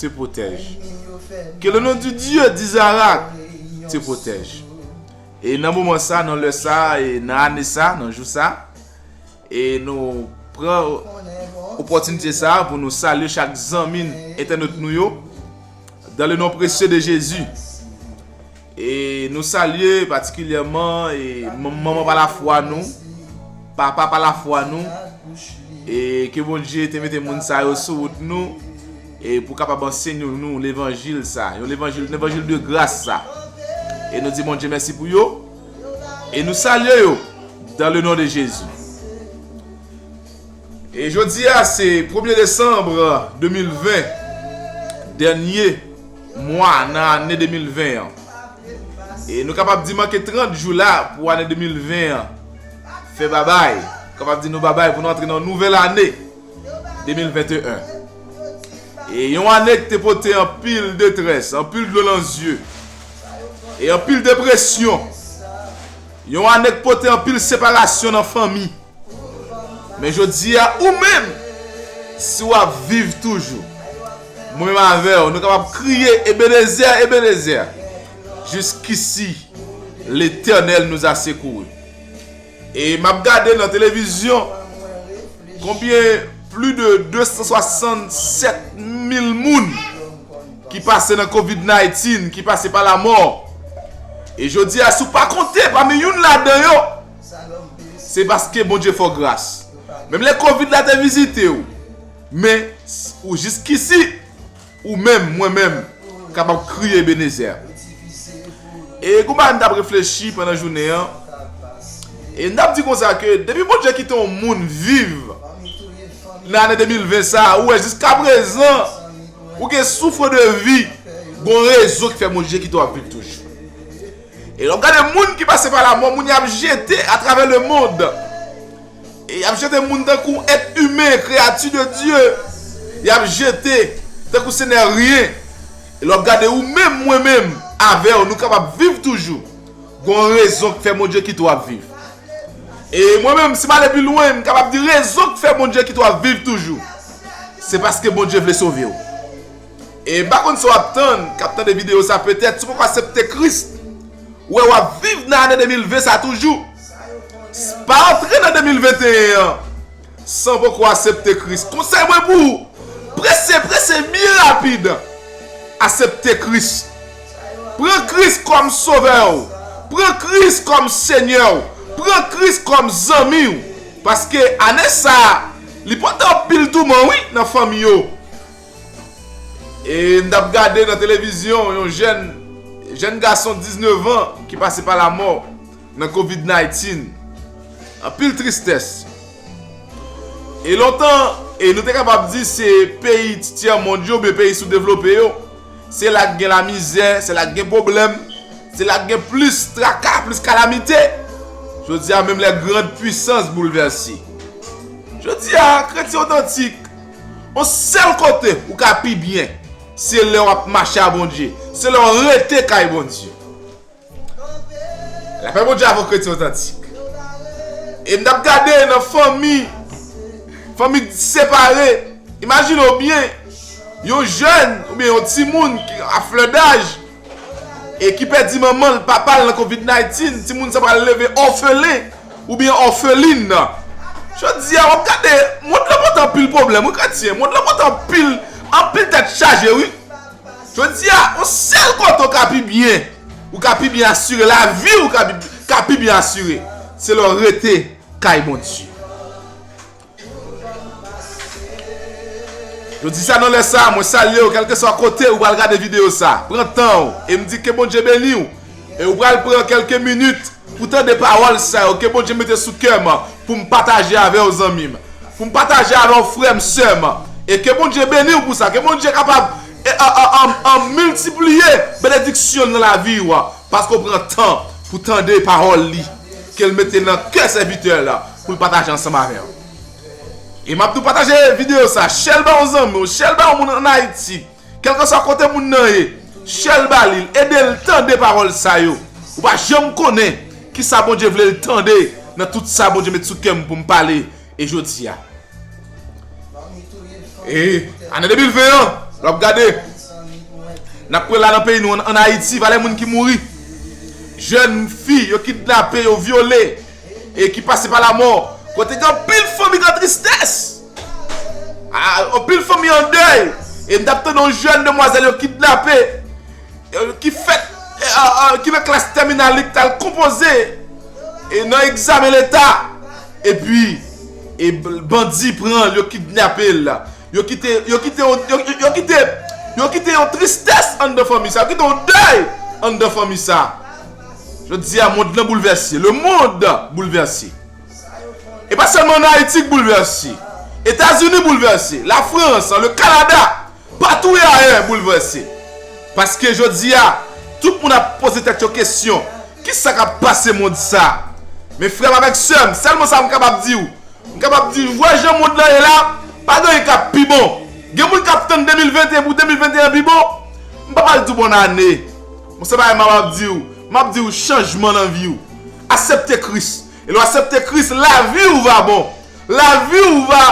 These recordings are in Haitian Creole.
te pwotèj. Ke le non du Dieu d'Isaac te pwotèj. E nan moman sa, nan lè sa, e nan ane sa, nan jou sa, e nou pran opòtinite sa pou nou salye chak zanmi entènot nou yo, dan le non presye de Jezi. E nou salye patikilyèman e manman pa la fwa nou, papa pa la fwa nou, e ke Bondye te mete moun sa yo sou wout nou, e pou kapab ansenyo nou levanjil sa, yon levanjil, levanjil de gras sa. E nou di Bondye mèsi pou yo, e nou salye yo, dan le non de Jezi. Jodi a se premye desanm 2020, dènye mwa nan ane 2020 an. E nou kapab di manke 30 jou la pou ane 2020 an fè babay. Nou kapab di nou babay pou nou antre nan yon nouvèl ane 2021. E yon ane ki te pote anpil detrès, anpil dlo nan zye, e anpil depresyon. Yon ane ki pote anpil separasyon nan fanmi. Men jodi a ou menm, si w ap viv toujou, mwen menm avè w, nou kapab kriye Ebenezè, Ebenezè, jiskisi Letènèl nous a secourus. E m ap gade nan televizyon konbyen pli de 267 mil moun ki pase nan covid 19, ki pase pa lamò. E jodi a si w pa konte pami youn ladan yo, Se paske Bondye fè w gras. Menm lè kovid la te vizite w. Men ou jiskisi. Ou menm, mwen menm, kapab kriye Ebenezer. E gen yon bagay m t ap reflechi pandan jounen an. E m t ap di konsa ke depi Bondye kite yon moun viv nan ane 2020 sa, ou wè jiska prezan ou gen soufre de vi, gen yon rezon ki fè Bondye kite w ap viv toujou. E lè w gade moun ki pase pa lamò, moun y ap jete atravè lemond, e y ap jete moun tankou èt imen, kreyati de Dye, y ap jete tankou se nè ryen. E lè w ap gade ou menm, mwen menm, avè w, nou kapab viv toujou, gen yon rezon ki fè Bondye kite w ap viv. E mwen menm, si m ale pi lwen, m kapab di rezon ki fè Bondye kite w ap viv toujou, se paske Bondye vle sove w. E mpa konn sa wap tann kap tande video sa petèt si w poko asepte Kris ou wè wap viv nan ane 2020 sa toujou pa antre nan 2021 an san w poko asepte Kris konsèy mwen pou ou prese prese byen rapid asepte Kris pran Kris kòm sovè w pran Kris kòm senyè w pran Kris kòm zanmi w paske ane sa li pote anpil touman wi nan fanmi yo. E m tap gade nan televizyon yon jèn Jèn gason 19 an ki pase pa lamò nan covid 19 Anpil tristès E lontan e nou te kapab di se peyi ti tyè mond yo oubyen peyi sou devlope yo Se la k gen lamizè se la k gen pwoblèm Se la k gen plis traka plis kalamite Jodi a menm lè grand pwisans boulvèse Jodi a kretyen otantik On sèl kote ou ka pi byen se lè wap mache a Bondye, se lè w rete kay Bondye. La fè Bondye avon kretyen otantik. E m tap gade nan fanmi, fanmi ki separe, imajine w byen, yon jèn oubyen yon timoun ki a flè daj E ki pèdi manman l, papa l nan covid 19, timoun sa pral leve òfelen oubyen òfelin. Jodi a w ap gade, mond lan pote anpil pwoblèm wi kretyen, mond lan pote anpil, anpil tèt chaje wi. Jodi a, yon sèl kote w ka pi byen, ou ka pi byen asire, lavi w ka pi byen asire, se lè w rete kay Bondye. Yo di sa nan lè sa, mwen salye w kèlke swa kote ou pral gade videyo sa. Pran tan w e m di ke Bondye beni w e ou pral pran kèlke minit pou tande pawòl sa yo ke Bondye mete sou kè m pou m pataje avè w zanmi m, pou m pataje avè w frè m, sè m e ke Bondye beni w pou sa, ke Bondye kapab miltipliye benediksyon l nan lavi w paske w pran tan pou tande pawòl li ke l mete nan kè sèvitè l. Pou l pataje ansanm avè w. E m ap tou pataje videyo sa. Share l ba yon zanmi w. Share l ba yon moun ann Ayiti. Kèlkanswa kote moun nan ye. Share l ba li. Ede l tande pawòl sa yo. Ou pa janm konnen kisa Bondye vle l tande nan tout sa Bondye met sou kè m pou m pale e jodi a. E ane 2020 an, lè w ap gade, n ap kwè la nan peyi nou an, ann Ayiti, valè moun ki mouri. Jèn fi yo kidnape, yo vyole. E ki pase pa lamò. Kote gen anpil fanmi gen tristès. Anpil fanmi an dèy. E m t ap tande yon jèn demwazèl yo kidnape. Ki fèt, ki nan klas tèminal li ki t al konpoze. E nan egzamen leta. E pi, bandi pran l, yo kidnape l. Yo kite yo kite yo yo kite yo kite yon tristès anndan fanmi sa yo kite yon dèy anndan fanmi sa jodi a mond lan boulvèse le mond boulvèse e pa sèlman an ayiti k boulvèse etazini boulvèse la frans le kanada patou e ayè boulvèse paske jodi a tout moun ap poze tèt yo kesyon Kisa kap pase mond sa? Men frè m avèk sè m, sèlman sa m kapab di w, m kapab di w wè jan mond lan ye la, pa gen anyen kap pi bon. Gen moun kap tann 2021 pou 2021 pi bon. M pap al di w bòn ane. Bon se bagay m ap di w, m ap di w chanjman nan vi w. Asepte Kris. E lè w asepte Kris, lavi w va bon. Lavi w va,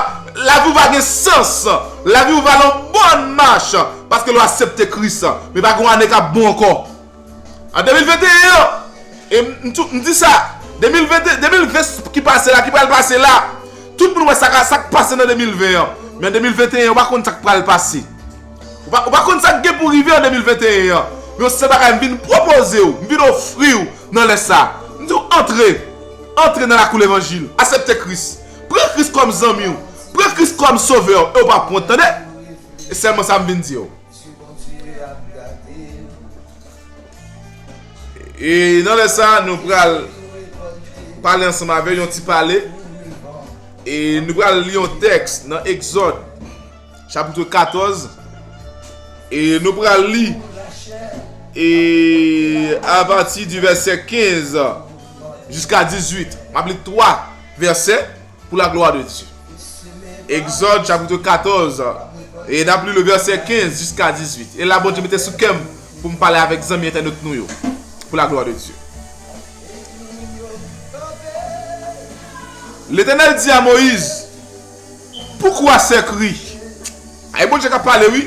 lavi w va gen sans. Lavi w va nan bòn mach. Paske lè w asepte Kris. Men pa gen yon ane kap bon ankò. An 2021 an, e m di sa, 2020 ki pase la, ki pral pase la, tout moun wè sa k pase nan 2020 an, men an 2021 yo pa konn sa k pral pase. Ou pa konn sa k gen pou rive an 2021 an. Men yon sèl bagay m vin pwopoze ou, m vin ofri ou nan lè sa. M di ou antre, antre nan lakou levanjil, asepte Kris. Pran Kris kòm zanmi ou, pran Kris kòm sovè ou e ou pa p wont tande. E sèlman sa m vin di ou. Misye kontinye ap gade. E nan lè sa nou pral pale ansanm avè yon ti pale. E nou pral li yon tèks nan Exod chapitre 14. E nou pral li e avati di vèsè 15 jiska 18. Map li 3 vèsè. Pou la glwa de Dye. Egzòd chapitre 14 e n ap li le vèsè 15 jiska 18. E la Bondye mete sou kè m pou m pale avèk zanmi entènot nou yo. Pou la glwa de Dye. Letènèl di a Moyiz, Poukoi sèk ri? Ay Bondye k ap pale wi.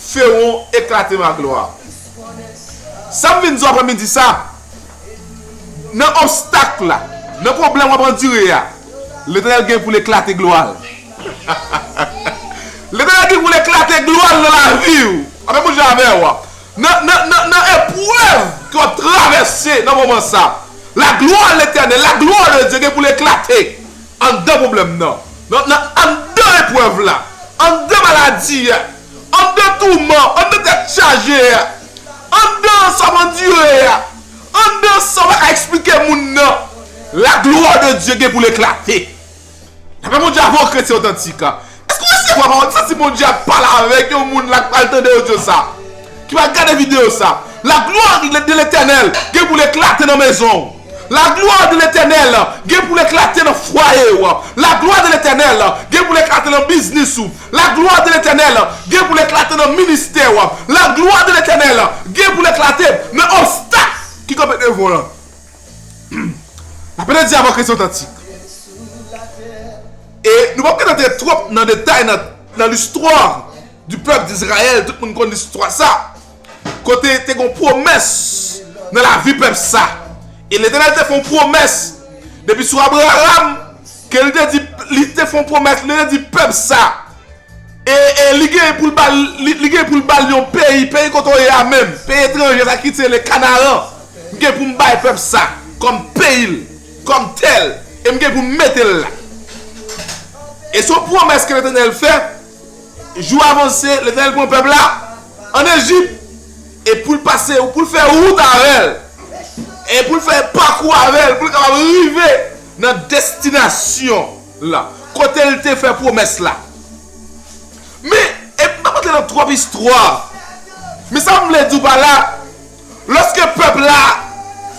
Feron eklate Maglwa. Sa m vin di w aprè midi sa, nan obstak la, nan pwoblèm w ap andire a, Letènèl gen pou l eklate glwa l. Letènèl gen pou l eklate glwa l nan lavi w. Sa menm jan avè w. Nan eprèv ke w ap travèse nan moman sa, la glwa Letènèl, la glwa de Dye gen pou l eklate. Anndan pwoblèm nan, nan anndan eprèv la, anndan maladi a, anndan touman, anndan tèt chaje a, anndan sa w andire a, anndan sa w pa ka esplike moun nan, laglwa de Dye gen pou l eklate. Dapre Bondye a, bon kretyen otantik, Èske w resevwa pawòl sa? Si Bondye ap pale avèk yon moun la k pral tande odyo sa a, ki pral gade videyo sa a, laglwa de Letènèl gen pou l eklate nan mezon w. Laglwa de Letènèl gen pou l eklate nan fwaye w. Laglwa de Letènèl gen pou l eklate nan biznis ou. Laglwa de Letènèl gen pou l eklate nan ministè w. Laglwa de Letènèl gen pou l eklate nan obstak ki kanpe devan w lan. Apre dyabokrasi otantik e nou pap ka antre twòp nan detay nan listwa di pèp dizrayèl tout moun konn listwa sa kote te gon pwomès nan lavi pèp sa e letènèl te fon pwomès depi sou abraram ke li te di li te fon pwomès li te di pèp sa. E li genyen pou l ba l, li genyen pou l ba l yon peyi, peyi kote w ye a menm, peyi etranje sa ki se le Kanaran. M gen pou m bay pèp sa kòm peyi l, kòm tè l, e m gen pou m mete l la. E se yon pwomès ke Letènèl fè, jou a vanse, Letènèl pran pèp la ann Ejip, e pou l pase, pou l fè wout avè l, e pou l fè pakou avè l, pou l kapab rive nan destinasyon. la, kote l te fè pwomès la. Men, epi m pap antre nan twòp istwa, men sa m vle di w pa la, lòske pèp la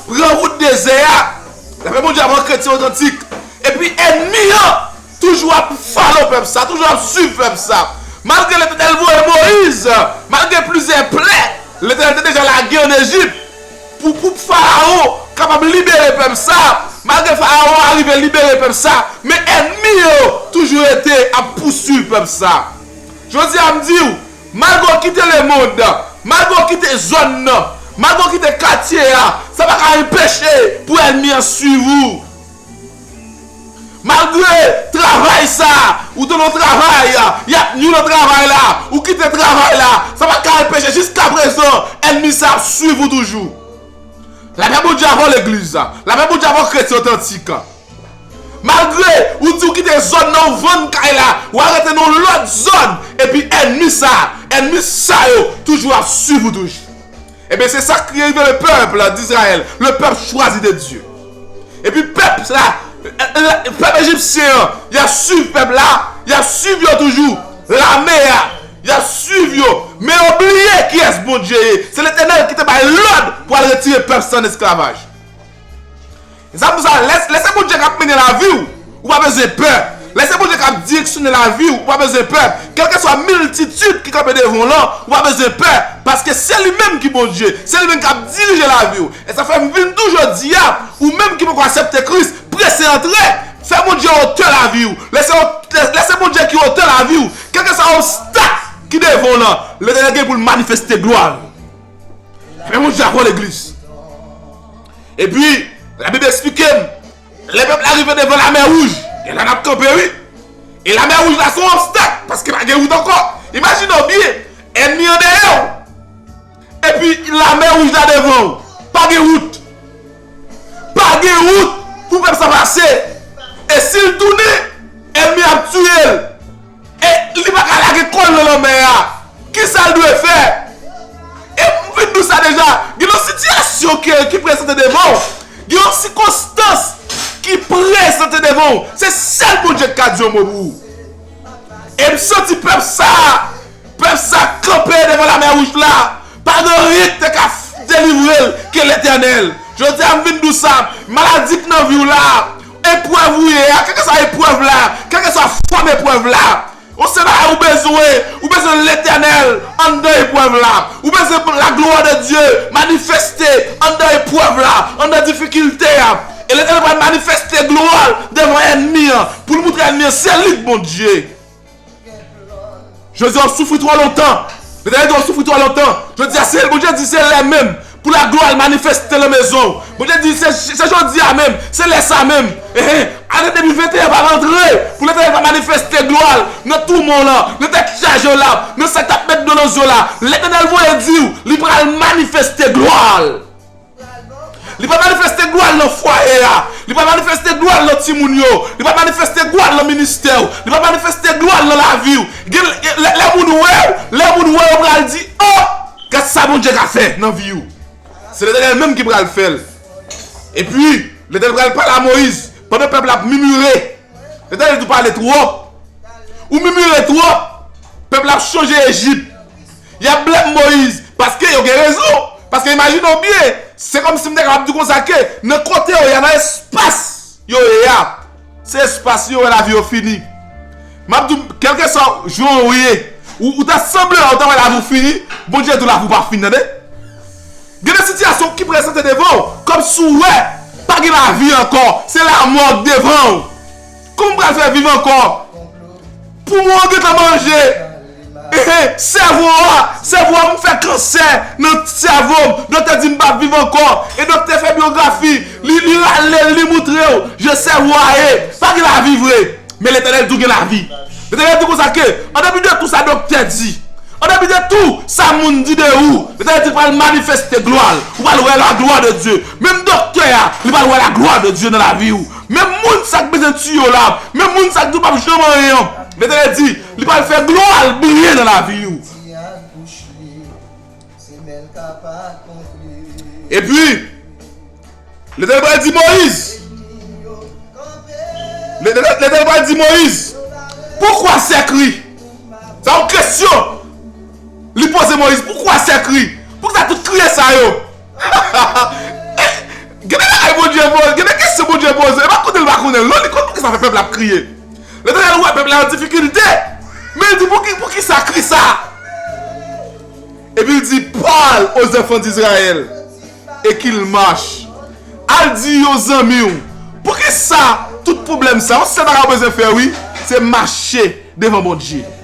pran wout dezè a, lapè Bondye a pran kretyen otantik, epi ènmi an toujou ap falo pèp sa, toujou ap swiv pèp sa, malgre Letènèl voye Moyiz, malgre plizyè plè Letènèl te deja lage ann Ejip. Pou koup Faraon kapab libere pèp sa, malgre Faraon arive libere pèp sa, men ènmi yo toujou rete ap pouswiv pèp sa. Jodi a m di w, malgre w kite lemond, malgre w kite zòn nan, malgre w kite katye a, sa pa ka enpeche pou ènmi an swiv ou. Malgre travay sa, ou te nan travay, y ap nwi nan travay la, ou kite travay la, sa pa t ka anpeche jiskaprezan ènmi sa ap swiv ou toujou. Lapè Bondye avè w legliz, lapè Bondye avè w kretyen otantik. Malgre ou di ou kite zòn nan ou vann kay la, ou al rete nan yon lòt zòn epi ènmi sa, ènmi sa yo toujou ap swiv ou toujou. E byen se sak rive le peuple d'Israël, le peuple choisi de Dieu. E pi peuple la, peuple Egyptien an, yap suiv peuple la, yap suiv yo toujou, lame a, yap suiv yo, men yo bliye kiyes Bondye ye, se L'Eternel ki te bay lod pou al retire peuple sa an esclavage. Zanmi sa lè se Bondye kap mennen laviw ou pa bezwen pè lè se Bondye kap direksyone laviw ou pa bezwen pè kelkeswa miltitid ki kanpe devan w lan ou pa bezwen pè paske se li menm ki Bondye se li menm kap dirije laviw e sa fèm vin tou jodia ou menm ki poko asepte Kris prese antre fè Bondye otè laviw lè se Bondye ki otè laviw kelkeswa obstak ki devan w lan Letènèl gen poul manifeste glwa l fè Bondye akò legliz. Epi, Labib esplike m, lè pèp la rive devan Lamè Wouj, e la n ap kanpe wi. E Lamè Wouj la se yon obstak, paske pa gen wout ankò. Imajine w byen, ènmi an dèyè w, epi Lamè Wouj la devan w. Pa gen wout. Pa gen wout pou pèp sa pase. E si l tounen, ènmi a ap tiye l. E li pa ka lage kòl nan lanmè a? Kisa l dwe fè? E m fin di w sa deja, gen yon sitiyasyon ki prezante devan w, gen yon sikonstans ki prezante devan w, se sèl Bondye ki ka di yon mo pou ou. E m santi pèp sa, pèp sa kanpe devan lamè wouj la, pa gen anyen ki te ka delivre l ke Letènèl. Jodi a m vin di w sa, maladi ki nan vi w la, Eprèv ou ye a, kèlkeswa eprèv la, kèlkeswa fòm eprèv la, ou se bagay ou bezwen, ou bezwen Letènèl anndan eprèv la, ou bezwen laglwa de Dye manifeste anndan eprèv la, anndan difikilte a, e Letènèl pral manifeste glwa l devan ènmi an, pou l moutre ènmi an se li k Bondye. Jezi a w soufri twò lontan. Mezanmi twò soufri twò lontan. Jodi a se Bondye di se lè menm pou la glwa l manifeste nan mezon w. Bondye di se jodi a menm, se lè sa menm. Ehe ane 2021 pa rantre pou Letènèl pa manifeste glwa l nan toumon w lan, nan tèt chaje w la, nan sa k t ap met dlo nan zye w la. Letènèl voye di w li pral manifeste glwa l. Li pral manifeste glwa l nan fwaye a. Li pral manifeste glwa l nan timoun yo. Li pral manifeste glwa l nan ministè w. Li pral manifeste glwa l nan lavi w. Lè moun wè w, lè moun wè w yo pral di, Oh! Gad sa Bondye ka fè nan vi w. Se Letènèl menm ki pral fè l. Epi, Letènèl pral pale a Moyiz pandan pèp la ap mimire. Letènèl di w pale twòp. Ou mimire twòp. Pèp la ap sonje Ejip. Yap blèm Moise paske yo gen rezon. Paske imajine w byen, se kòmsi m ta kapab di konsa ke nan kote yo ye a, nan espas yo ye a, se espas yo wè lavi yo fini. Map di w, kèlkeswa jan w ye, ou ta sanble la ou ta wè lavi w fini, Bondye di w lavi w pa fin tande. Gen de sitiyasyon ki prezante devan w, kòmsi w wè pa gen lavi ankò, se lamò k devan w. Kòman m pral fè viv ankò? Poumon an gentan manje. Sèvo a, sèvo a m fè kansè nan sèvo m. Doktè di m pap viv ankò. E doktè fè byografi. Li rale l, li moutre w jan sèvo a ye. Pa gen lavi vre. Men Letènèl di w gen lavi. Letènèl di konsa ke, an depi de tou sa doktè di, an depi de tou sa moun di de ou, Letènèl di l pral manifeste glwa l. Ou pral wè laglwa de Dye. Menm doktè a, li pral wè laglwa de Dye nan lavi w. Men moun sa k bezwen tiye w la, men moun sa k di w pap janm anyen an, Letènèl di, li pral fè glwa l briye nan lavi w. Epi, Letènèl pral di Moyiz, Letènèl pral di Moyiz, Poukwa sèk ri? Sa yon kesyon li poze Moyiz, Poukwa sèk ri? Poukisa tout kriye sa yo? Gen de bagay Bondye poze, gen de kesyon Bondye poze, e pa konnen l pa konnen l non, li konn pou ki sa fè pèp la ap kriye. Letènèl wè pèp la nan difikilte, men l di pou ki pou ki sa kri sa a? Epi l di, Pal o zanfan d'Izrayèl e ki l mache, al di yo zanmi w, pou ki sa tout pwoblèm sa a, yon sèl bagay ou bezwen fè wi, se mache devan Bondye.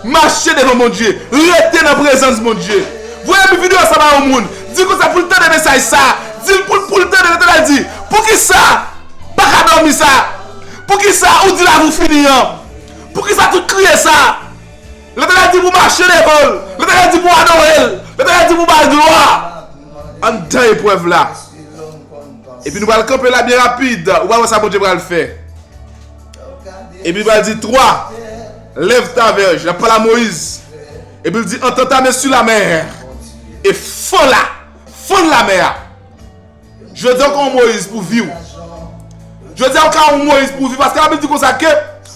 Mache devan Bondye, rete nan prezans Bondye. Voye bi video sa ba yon moun, dil konsa poul tande mesaj sa, dil poul poul tande rete la di, poukisa paka domi sa, poukisa ou di lavi ou fini an, poukisa tout kriye sa, Letènèl di pou mache devan l, Letènèl di pou adore l, Letènèl di pou bal glwa. Antan eprèv la. Epi nou pral kanpe la byen rapid, ou pral wè sa Bondye pral fè. Epi li pral di 3 Lève ta verge, lap pale a Moyiz Epi li di Entends ta main sur la mer E fon la, fon lamè a Jodi a ou ka yon Moyiz pou viw Jodi a ou ka yon Moyiz pou viw Paske la Bib di konsa ke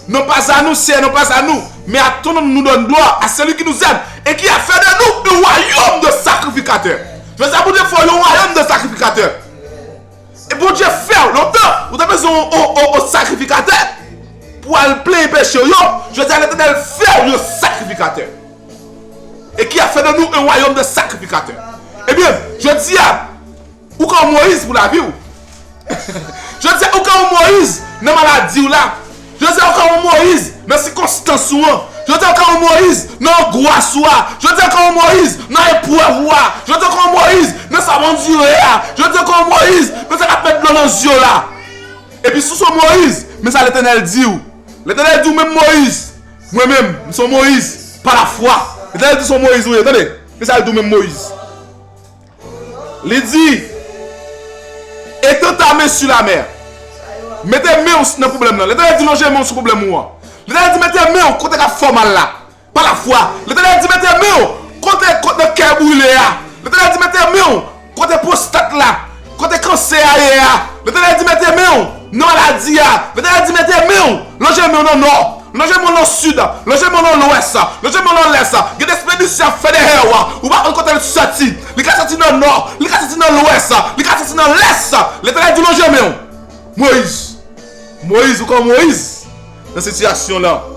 Non pas a nou, Seyè, non pas a nou Men a ton non nou donne glwa A seli ki nous aime E ki a fè de nou un royaume de sacrificateurs Jodi a Bondye fè w yon royaume de sacrificateurs E Bondye fèw lontan ou te bezwen yon sakrifikatè pou al plenyen pechew yo, jodi a Letènèl fèw yon sakrifikatè. E ki ap fè nan nou yon wayòm de sakrifikatè. Ebyen, jodi a ou ka yon Moyiz pou laviw. Jodi a ou ka yon Moyiz nan maladiw la, Jodi-a ou ka yon Moyiz nan sikonstans ou an. Jodi-a ou ka yon Moyiz nan angwas ou a. Jodi-a ou ka yon Moyiz nan eprèv ou a. Jodi-a ou ka yon Moyiz nan sa w andire a. Jodi-a ou ka yon Moyiz nan sa k ap met dlo nan zye w la. Epi si w se yon Moyiz, men sa Letènèl di w. Letènèl di w menm Moyiz, mwen menm, m se yon Moyiz pa lafwa. Letènèl di w se yon Moyiz ou ye. Tande, men sa l di w menm Moyiz. Li di, Etant ta men su la mè. Mete men w nan pwoblèm lan. Letènèl di, Lonje men w sou pwoblèm ou an. Letènèl di, Mete men w kote k ap fè w mal la. Pa lafwa. Letènèl di, Mete men w kote nan kè brile a. Letènèl di, Mete men w kote pwostat la, kote kansè a ye a. Letènèl di, Mete men w nan maladi a. Letènèl di, Mete men w, lonje men w nan nò. Lonje men w nan sid, lonje men w nan lwès, lonje men w nan lès, gen de spedisyon y ap fè dèyè w, ou pa konn kote l soti. Li ka soti nan nò, li ka soti nan lwès, li ka soti nan lès. Letènèl di, Lonje men w, Moyiz. Moyiz, ou konn Moyiz nan sitiyasyon l lan.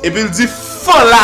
Epi l di, Fon la.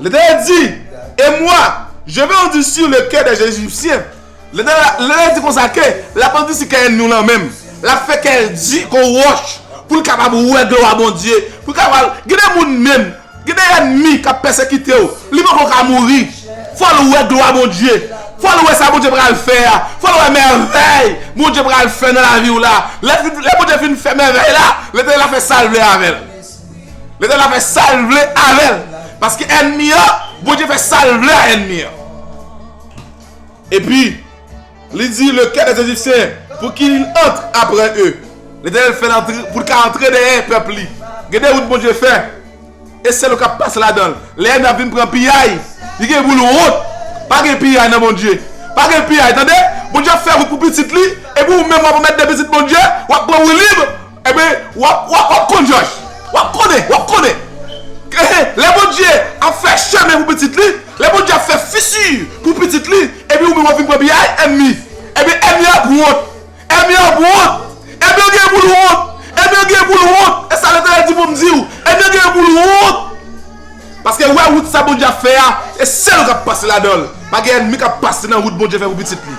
L'Etènèl di, E mwa, je vè andusi le kè dè Ejipsyen. L'Etènèl di konsa ke l'ap andusi kè ènmi w lan menm. L'ap fè kè l di kon wòch pou l kapab wè glwa Bondye, pou l kapab, gen de moun menm, gen de ènmi k'ap pèsekite w, li poko ka mouri, fò l wè glwa Bondye, fò l wè sa Bondye pral fè a, fò l wè mèvèy Bondye pral fè nan lavi w la. Lè Bondye fin fè mèvèy la, L'Etènèl ap fè sa l vle avè l. Letèl la fè sal vle avèl. Paske ènmi an, Bondye fè sal vle a ènmi an. Epi, li di le kè des Ejipsyen pou ki il antre apre eu. Letènèl fèl antre poul ka antre dèyè pèp li. Gen de wout Bondye fè, e sèl ou kap pase ladanl. Lè ènmi ap vin pran piyay, li gen poul wont. Pa gen piyay nan Bondye. Pa gen piyay tande. Bondye ap fè wout pou pitit li, epi ou menm wap anmètde pitit Bondye, wap pran woulib. Enben, w'ap, w'ap, w'ap konn, Jòj! W'ap konnen, w'ap konnen! Enhen, lè Bondye ap fè chemen pou pitit li, lè Bondye ap fè fisi pou pitit li, epi ou menm w'ap vin pran piyay, ènmi! Enben, ènmi a ap wont! Ènmi a ap wont! Ènmi an genyen pou l' wont! Ènmi an genyen pou l' wont! E sa Letènèl di pou m' di ou, ènmi an genyen pou l' wont! Paske wè wout sa Bondye ap fè a, e sèl ou k'ap pase ladan l'. Pa gen ènmi k'ap pase nan wout Bondye fè pou pitit li.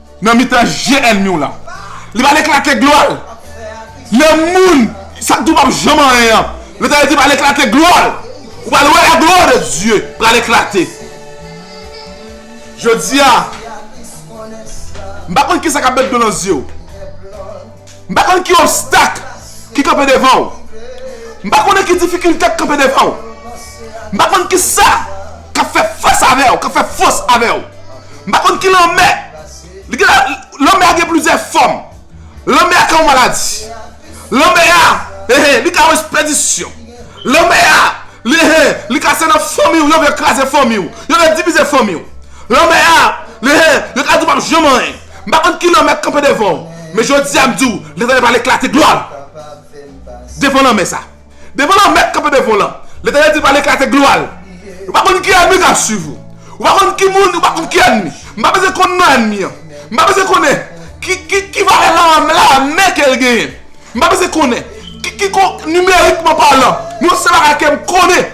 Nan mitan je ènmi w la. Li pral eklate glwa l. Lè moun sa k di w pap janm anyen an, Letènèl di pral eklate glwa l. Ou pral wè laglwa de Dye pral eklate. Jodi a, m pa konn kisa k ap met dlo nan zye w. M pa konn ki obstak ki kanpe devan w. M pa konnen ki difikilte k ap kanpe devan w. M pa konn ki sa k ap fè fas avè w, k ap fè fos avè w. M pa konn ki lanmè. Lanmè a gen plizyè fòm. Lanmè a ka yon maladi. Lanmè a, ehe, li ka yon espedisyon. Lanmè a, ehe, li ka se nan fanmi w yo vle kraze fanmi w. Yo vle divize fanmi w. Lanmè a, ehe, yo ka di w pa p janm anyen. M pa konn kilè w mèt kanpe devan w, men jodi a m di w Letènèl pral eklate glwa l devan lanmè sa. Devan lanmè k kanpe devan w lan, Letènèl di l pral eklate glwa l. Ou pa konn ki ènmi k ap suiv ou. Ou pa konn ki moun, ou pa konn ki ènmi. M pa bezwen konn non ènmi an. M pa bezwen konnen ki valè lame ke l genyen. M pa bezwen konnen ki nimerikman palan. Yon sèl bagay ke m konnen.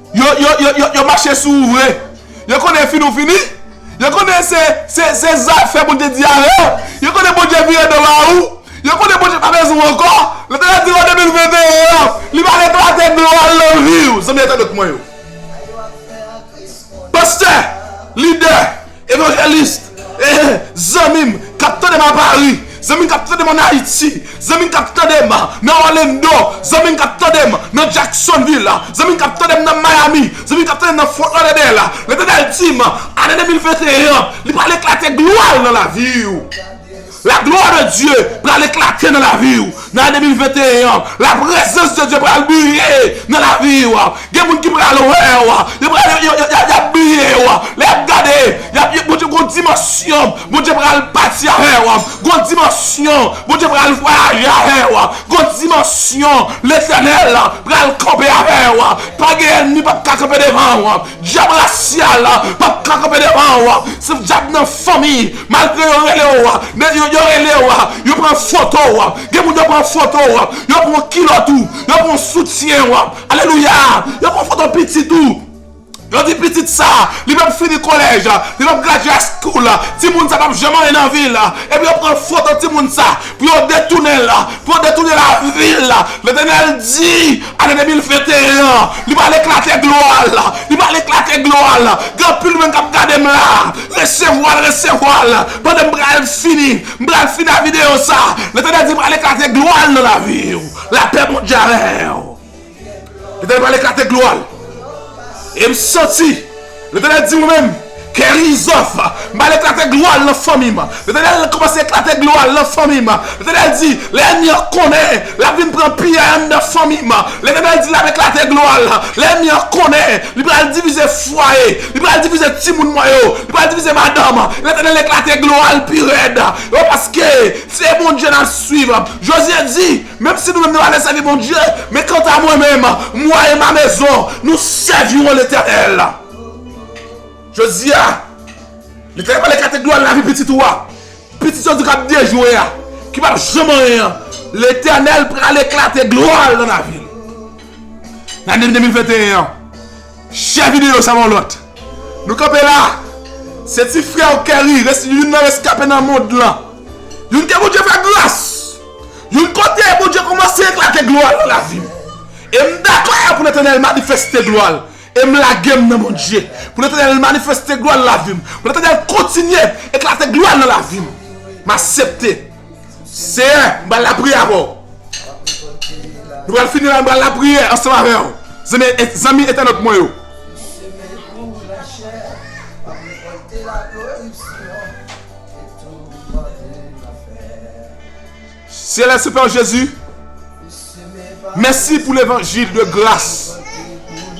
Yo yo yo yo yo mache sou ou vre yo konnen fini ou fini yo konnen se se se zafè pou te di avè w yo konnen Bondye vire do ba ou yo konnen Bondye pa bezwen w ankò Letènèl di w an 2021 an li pral eklate dlo a lan vi w zanmi ak tandot mwen yo pastè lidè Evangeliste eeh zanmi m kap tande m a Paris zanmi m kap tande m an Haïti zanmi m kap tande m nan Orlando zanmi m kap tande m nan Jacksonville zanmi m kap tande m nan Miami zanmi m kap tande m nan Fort Lauderdale Letenel di m ane 2021 an li pral eklate glwa l nan lavi w. La glwa de Dye pral eklate nan lavi ou nan ane 2021 an, la prezans de Dye pral briye nan lavi ou, gen moun ki pral wè ou, yo pral yap briye ou, lè yap gade yap Bondye gon dimansyon Bondye pral pati avè ou, gon dimansyon Bondye pral vwayaje avè ou, gon dimansyon Letènèl pral kanpe avè ou, pa gen ènmi pap ka kanpe devan ou. Dyab rasyal la pap ka kanpe devan ou se dyab nan fanmi malgre yo rele ou men yo rele ou yo pran foto ou gen moun yo pran foto ou yo pran kilòt ou yo pran soutyen ou alelouya yo pran foto pitit ou yo di pitit sa li pap fini kolèj li pap gradye a school timoun sa pap janm anyen nan vil epi yo pran foto timoun sa pou yo detounen l pou yo detounen lavi l Letènèl di. Ane 2021 an, li pral eklate glwa l, li pral eklate glwa l, gen anpil moun k ap gade m la, resevwa l, resevwa l, pandan m pral fini, m pral fini a videyo sa, Letènèl di pral eklate glwa l nan lavi w, lapè Bondye avè w, Letènèl pral eklate glwa l, e m santi. Letènèl di mwen menm, Kerizòf, m pral eklate glwa l nan fanmi m. Letènèl kòmanse eklate glwa l nan fanmi m. Letènèl di, lè ènmi an konnen, l ap vin pran piyay anndan fanmi m. Letènèl di l ap eklate glwa l, lè ènmi an konnen, li pral divize fwaye, li pral divize timoun mwen yo, li pral divize madanm. Letènèl eklate glwa l pi rèd. Yo paske se Bondye n ap suiv. Jozye di. Menm si nou menm nou ale sèvi Bondye, men kanta mwen menm, mwa e ma mezon, nou sèviron Letènèl. Jodi a, li te pale katedral lavi pitit ou a, pitit yo di k'ap dejwe a, ki p'ap janm anyen an, Letènèl pral eklate glwa l' nan lavi l'. Nan ane 2021 an, chè videyo sa pa yon lòt, nou kanpe la, se ti frè w Kerry, youn nan reskape nan mond lan, youn ke Bondye fè gras. Yon kote Bondye kòmanse eklate glwa l nan lavi m e m dakò pou Letènèl manifeste glwa l e m lage m nan Bondye pou Letènèl manifeste glwa l nan lavi m pou Letènèl kontinye eklate glwa l nan lavi m m asepte Seyè m pral lapriyè avè w nou pral fini la m pral lapriyè ansanm avè w zanmi entènot mwen yo. Seyè se pè jezi Mèsi pou levanjil de gras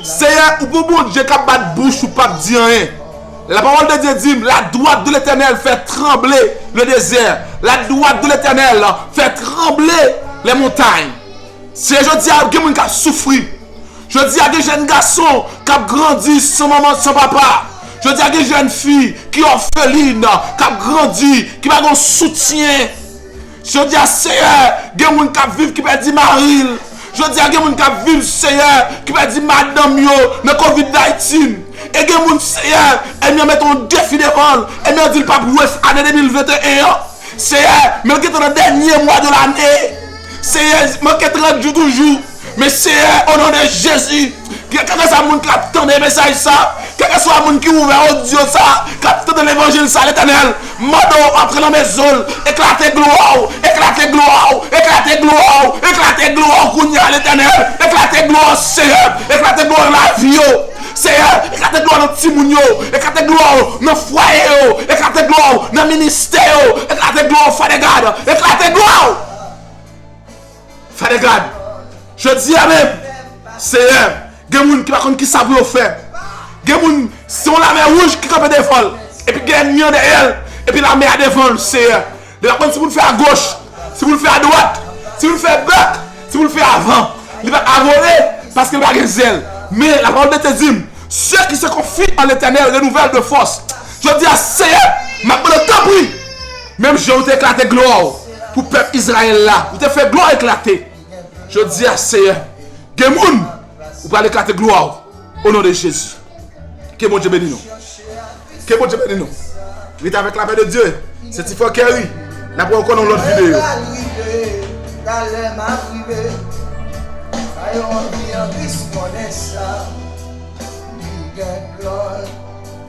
Seyè ou gon Bondye kap bat bouch ou pap di anyen La pawòl de Dye dim la dwat de letènèl fè tranble le dezè la dwat de letènèl fè tranble lè montay Seyè jodi a gen moun kap soufri Jodi a gen jèn gason k ap grandi san manman san papa. Jodi a gen jèn fi ki òfelin, k ap grandi, ki pa gen yon soutyen. Jodi a Seyè, gen moun k ap viv ki pèdi mari l. Jodi a gen moun k ap viv Seyè, ki pèdi madanm yo nan covid 19. E gen moun Seyè, ènmi an mete yon defi devan l, ènmi an di l pa p wè ane 2021 an. Seyè, men l gen tan nan dènye mwa de lane. Seyè manke 30 jou toujou men seyè onon de jezi kèlke sa moun kap tande mesaj sa kèlke swa moun ki ouvè odyo sa kap tande levanjil sa letènèl mande w antre nan mezon l eklate glwa w eklate glwa w eklate glwa w eklate glwa w kounya letènèl eklate glwa w seyè eklate glwa w nan lavi yo seyè eklate glwa w nan timoun yo eklate glwa w nan fwaye yo eklate glwa w nan ministè yo eklate glwa w fadègad eklate glwa w. Father God, jodi a menm, Seyè, gen moun ki pa konn kisa pou yo fè. Gen moun, se yon lamè wouj ki kanpe devan l, epi gen ènmi an dèyè l, epi lamè a devan l, Seyè. Li pa konn si pou l fè agoch, si pou l fè adwat, si pou l fè bèk, si pou l fè avan. Li pa ka vole, paske li pa gen zèl. Men, lapawòl de Dye di m, Sè ki se konfi an Letènèl renouvèl de fòs. Jodi a, Seyè, m ap mande w, tanpri, menm jan ou te eklate glwa w, pou pèp Izrayèl la, ou te fè glwa w eklate. Jodi a, Seyè, gen moun ou pral eklate glwa w, onon de Jezi. Ke Bondye beni nou. Ke Bondye beni nou. Rete avèk lapè de Dye. Se ti frè Kerry. N ap wè w ankò nan yon lòt videyo.